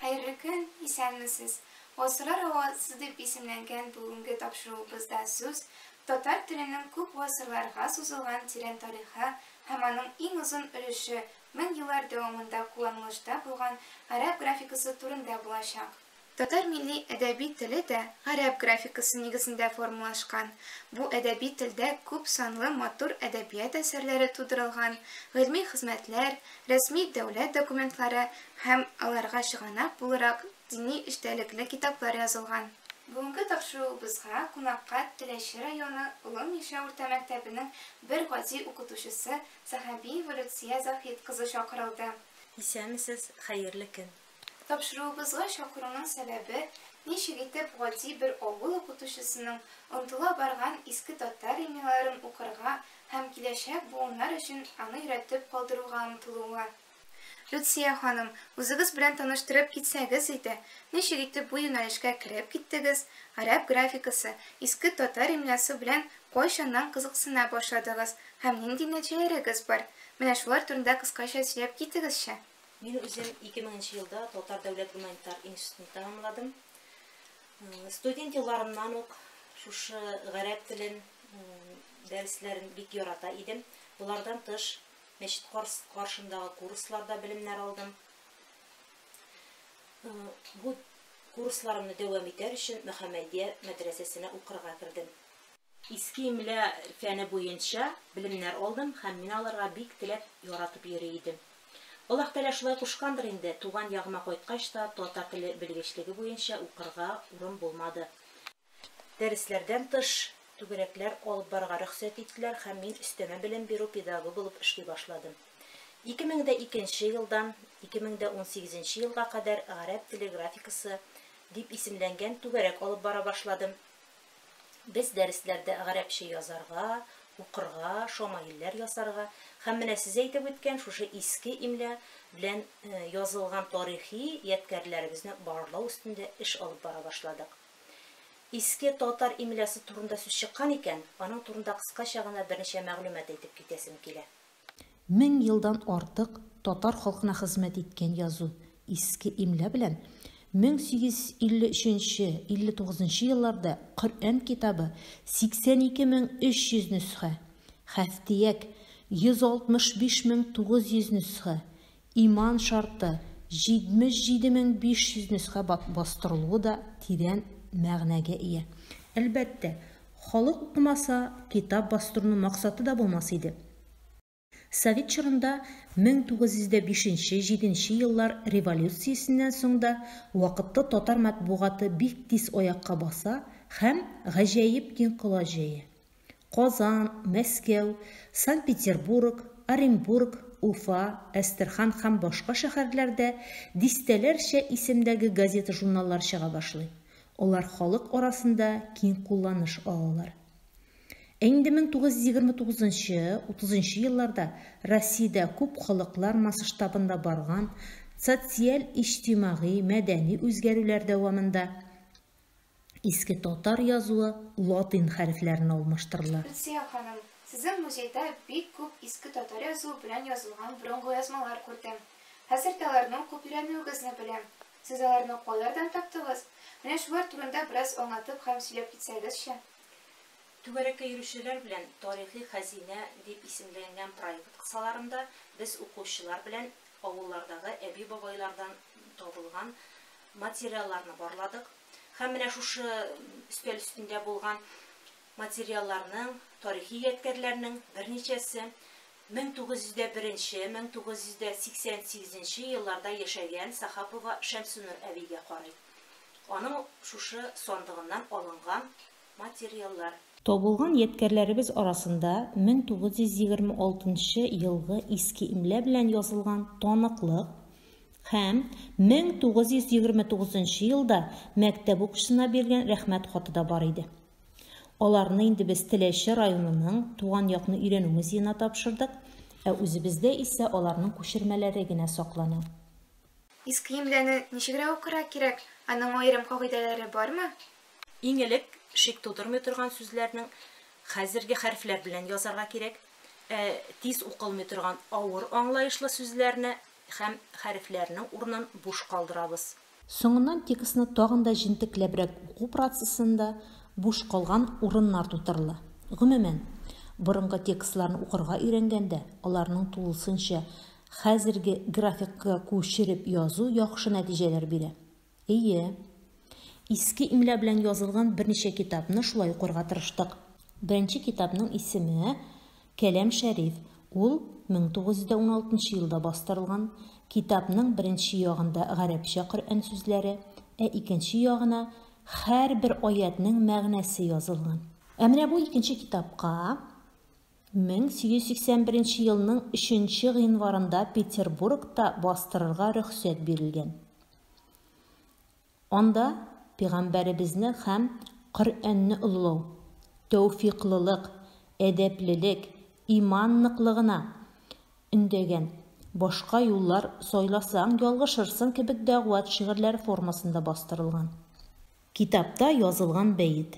Хәерле көн, исәнмесез! Гасырлар һавасы дип исемләнгән бүгенге тапшыруыбызда сүз татар теленең күп гасырларга сузылган тирән тарихы һәм аның иң озын өлеше, мең еллар дәвамында кулланылышта булган гарәп графикасы турында булачак. Татар милли әдәби теле дә гарәп графикасы нигезендә формалашкан. Бу әдәби телдә күп санлы матур әдәбият әсәрләре тудырылган, гыйльми хезмәтләр, рәсми дәүләт документлары һәм, аларга чыганак булырак, дини эчтәлекле китаплар язылган. Бүгенге тапшыруыбызга кунакка Теләче районы Олы Мишә урта мәктәбенең бер гади укытучысы Сәхәбиева Люция Заһит кызы чакырылды. Исәнмесез, хәерле көн! Тапшыруыбызга чакыруның сәбәбе, ничек итеп гади бер авыл укытучысының онтыла барган иске татар имяларын укырга һәм киләчәк буыннар өчен аны өйрәтеп калдыруга омтылуы. Люция ханым, үзегез белән таныштырып китсәгез иде, ничек итеп бу юнәлешкә кереп киттегез, гарәп графикасы, иске татар имлясы белән кайчаннан кызыксына башладыгыз һәм нинди нәтиҗәләрегез бар? Менә шулар турында кыскача сөйләп китегезче. Мин үзем 2000 нче елда Татар дәүләт гуманитар институтын тәмамладым. Студент елларымнан ук шушы гарәп телен дәресләрен бик ярата идем. Болардан тыш мәчет каршындагы курсларда белемнәр алдым. Бу курсларымны дәвам итәр өчен Мөхәммәдия мәдрәсәсенә укырга кердем. Иске имля фәне буенча белемнәр алдым һәм мин аларга бик теләп, яратып йөри идем. Аллаһ Тәгалә шулай кушкандыр инде, туган ягыма кайткач та татар теле белгечлеге буенча укырга урын булмады. Дәресләрдән тыш түгәрәкләр алып барырга рөхсәт иттеләр һәм мин өстәмә белем бирү педагогы булып эшли башладым. 2002 нче елдан 2018 нче елга кадәр Гарәп теле графикасы дип исемләнгән түгәрәк алып бара башладым. Без дәресләрдә гарәпчә язарга, укырга, шамаилләр ясарга һәм менә сез әйтеп үткән шушы иске имля белән язылган тарихи ядкәрләребезне барлау өстендә эш алып бара башладык. Иске татар имлясы турында сүз чыккан икән, аның турында кыскача гына берничә мәгълүмат әйтеп китәсем килә. Мең елдан артык татар халкына хезмәт иткән язу, иске имля белән 1853-59 елларда Коръән китабы 82300 нөсхә, Хәфтияк, 165900 нөсхә, Иман шарты, 77500 нөсхә бастырылуы да тирән мәгънәгә ия. Әлбәттә, халык укымаса, китап бастыруның максаты да булмас иде. Совет чорында 1905-1907 еллар революциясеннән соң да вакытлы татар матбугаты бик тиз аякка баса һәм гаҗәеп киң колач җәя. Казан, Мәскәү, Санкт-Петербург, Оренбург, Уфа, Әстерхан һәм башка шәһәрләрдә дистәләрчә исемдәге газета-журналлар чыга башлый, алар халык арасында киң кулланыш алалар. Ә инде 1929-30 елларда Россиядә күп халыклар масштабында барган социаль-иҗтимагый, мәдәни үзгәрүләр дәвамында, Иске татар язуы латин хәрефләренә алмаштырыла. Гөлсия ханым, сезнең музейда бик күп иске татар язуы белән язылган борынгы язмалар күрдем. Хәзер дә аларны укып өйрәнүегезне беләм. Сез аларны кайлардан таптыгыз? Менә шулар турында бераз аңлатып һәм сөйләп китсәгезче. Түгәрәккә йөрүчеләр белән Тарихи хәзинә дип исемләнгән проект кысаларында без укучылар белән авыллардагы әби-бабайлардан табылган Материалларны барладык һәм менә шушы өстәл өстендә булган материалларның, тарихи ядкәрләрнең берничәсе 1901 нче, 1988 нче елларда яшәгән Сахапова Шәмсенур әбигә карый. Аның шушы сандыгыннан алынган материаллар. Табылган ядкәрләребез арасында 1926 нчы елгы иске имля белән язылган таныклык һәм 1929 нчы елда мәктәп укучысына бирелгән рәхмәт хаты да бар иде. Аларны инде без Теләче районының Туган якны өйрәнү музеена тапшырдык, ә үзебездә исә аларның күчермәләре генә саклана. Иске имляны ничегрәк укырга кирәк, аның аерым кагыйдәләре бармы? Иң элек шик тудырмый торган сүзләрнең хәзерге хәрефләр белән язарга кирәк. Ә тиз укылмый торган авыр аңлаешлы сүзләрне һәм хәрефләрнең урынын буш калдырабыз. Соңыннан текстны тагын да җентекләбрәк уку процессында буш калган урыннар тутырыла. Гомумән, борынгы текстларны укырга өйрәнгәндә, аларның тулысынча хәзерге графикага күчереп язу яхшы нәтиҗәләр бирә. Эйе. Иске имля белән язылган берничә китапны шулай укырга тырыштык. Беренче китапның исеме Кәләм Шәриф. Ул 1916 елда бастырылган. Китапның беренче ягында гарәпчә Коръән сүзләре, ә икенче ягына һәрбер аятьнең мәгънәсе язылган. Ә менә бу икенче китапка 1881 елның 3 гыйнварында Петербургта бастырырга рөхсәт бирелгән. Анда Пигамбәребезне хәм Коръәнне олылау, тәүфиклылык, әдәплелек, иман ныклыгына өндәгән, башка юллар сайласаң, ялгышырсың кебек дәгъват шигырьләре формасында бастырылган. Китапта язылган бәет.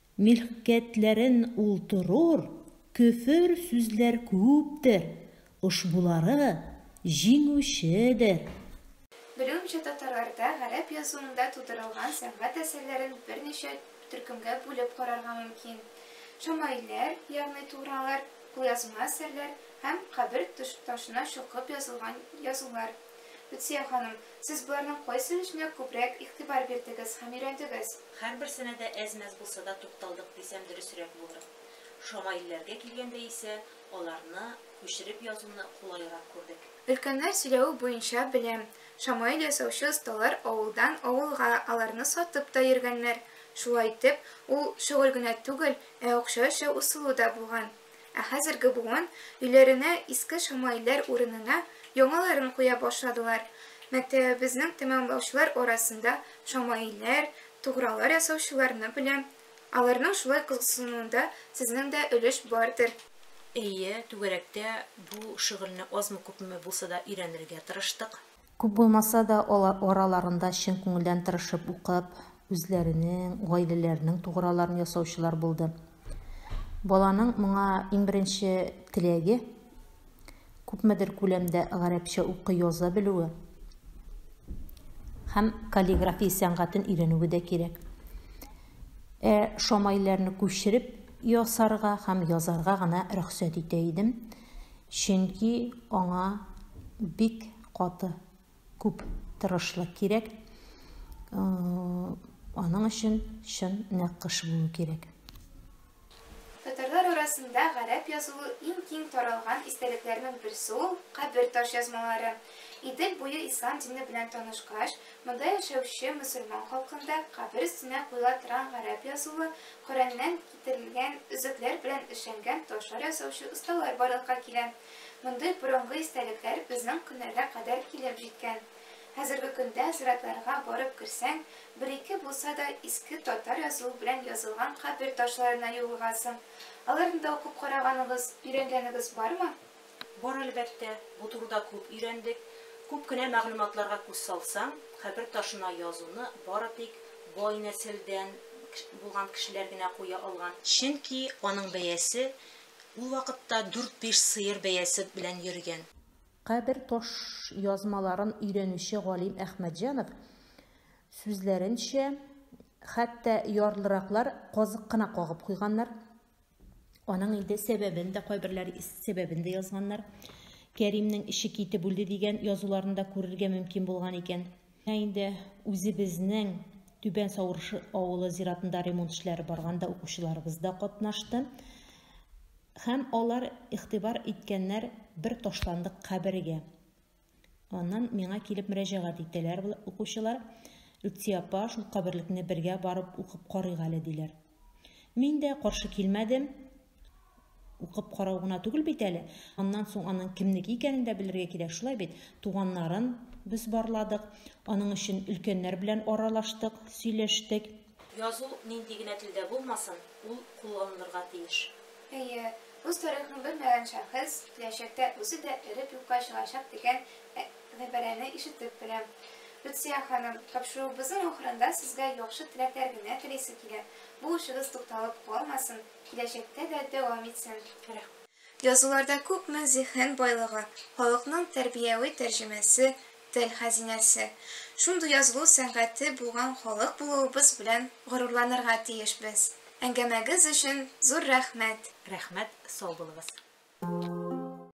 Милккәтләрен ул торур, Көфер сүзләр күптер, Ошбулары җиңүчедер. Белүемчә татарларда гарәп язуында тудырылган сәнгать әсәрләрен берничә төркемгә бүлеп карарга мөмкин, шәмаилләр, ягъни тугралар, кулъязма әсәрләр һәм кабер ташына чокып язылган язулар. Люция ханым, сез боларның кайсыөченә күбрәк игътибар бирдегез һәм өйрәндегез? Һәрберсенә дә әз-мәз булса да тукталдык дисәм дөресрәк булыр. Шамаилләргә килгәндә исә аларны күчереп язуны кулайрак күрдек. Өлкәннәр сөйләве буенча беләм, шамаил ясаучы осталар авылдан авылга аларны сатып та йөргәннәр. Шулай итеп, ул шөгыль генә түгел, ә акча эше усылу да булган. Ә хәзерге буын өйләренә иске шамаилләр урынына яңаларын куя башладылар. Мәктәбебезнең тәмамлаучылар арасында шамаилләр, тугралар ясаучыларны беләм. Аларның шулай кызыксынуында сезнең дә өлеш бардыр. Әйе, түгәрәктә бу шөгыльне азмы-күпме булса да өйрәнергә тырыштык. Күп булмаса да, алар араларында чын күңелдән тырышып укып, үзләренең, гаиләләренең туграларын ясаучылар булды. Баланың моңа иң беренче теләге, күпмедер күләмдә гарәпчә укый-яза белүе һәм каллиграфия сәнгатен өйрәнүе дә кирәк. Ә шамайләрне күчереп ясарга һәм язарга гына рөхсәт итә идем. Чөнки аңа бик каты күп тырышлык кирәк, аның өчен чын нәккыш булу кирәк. Татарлар арасында гарәп язуы иң киң таралган истәлекләрнең берсе ул, кабер ташъязмалары. Идел буе ислам дине белән танышкач, монда яшәүче мөселман халкында кабер өстенә куела торган гарәп язуы Коръәннән китерелгән өзекләр белән эшләнгән ташлар ясаучы осталар барлыкка килә. Мондый борынгы истәлекләр безнең көннәргә кадәр килеп җиткән. Хәзерге көндә зиратларга барып керсәң, бер-ике булса да иске татар язуы белән язылган кабер ташларына юлыгасың. Аларны да укып караганыгыз, өйрәнгәнегез бармы? Бар, әлбәттә, бу турыда күп өйрәндек. Күп кенә мәгълүматларга күз салсаң, кабер ташына язуны бары тик бай нәселдән булган кешеләр генә куя алган. Чөнки аның бәясе ул вакытта дүрт-биш сыер бәясе белән йөргән. Кабер таш язмаларын өйрәнүче галим Әхмәтҗанов сүзләренчә, хәтта ярлыраклар казык кына кагып куйганнар, Аның инде сәбәбен дә кайберләр сәбәбен дә язганнар. Кәримнең эче китеп үлде дигән язуларында күрергә мөмкин булган икән. Инде үзебезнең Түбән Савырыш авылы зиратында ремонт эшләре барганда укучыларыбыз да катнашты. Һәм алар игътибар иткәннәр бер ташландык кабергә. Аннан миңа килеп мөрәҗәгать итәләр укучылар, Лүтси апа, шул каберлекне бергә барып укып карыйк әле, диләр. Мин дә каршы килмәдем, укып карау гына түгел бит әле. Аннан соң аның кемнеке икәнен дә белергә кирәк, шулай бит. Туганнарын без барладык, аның өчен өлкәннәр белән аралаштык, сөйләштек. Язу нинди генә телдә булмасын, ул кулланылырга тиеш. Әйе, үз тарихын белмәгән шәхес киләчәктә үзе дә эреп юкка чыгачак дигән гыйбарәне ишетеп беләм. Люция ханым, тапшыруыбызның ахырында сезгә яхшы теләкләр генә телисе килә, бу эшегез тукталып калмасын, киләчәктә дә дәвам итсен. Язуларда күпме зиһен байлыгы, халыкның тәрбияви тәрҗемәсе, тел хәзинәсе, шундый язылу сәнгате булган халык булуыбыз белән горурланырга тиешбез. Әңгәмәгез өчен зур рәхмәт! Рәхмәт, сау булыгыз!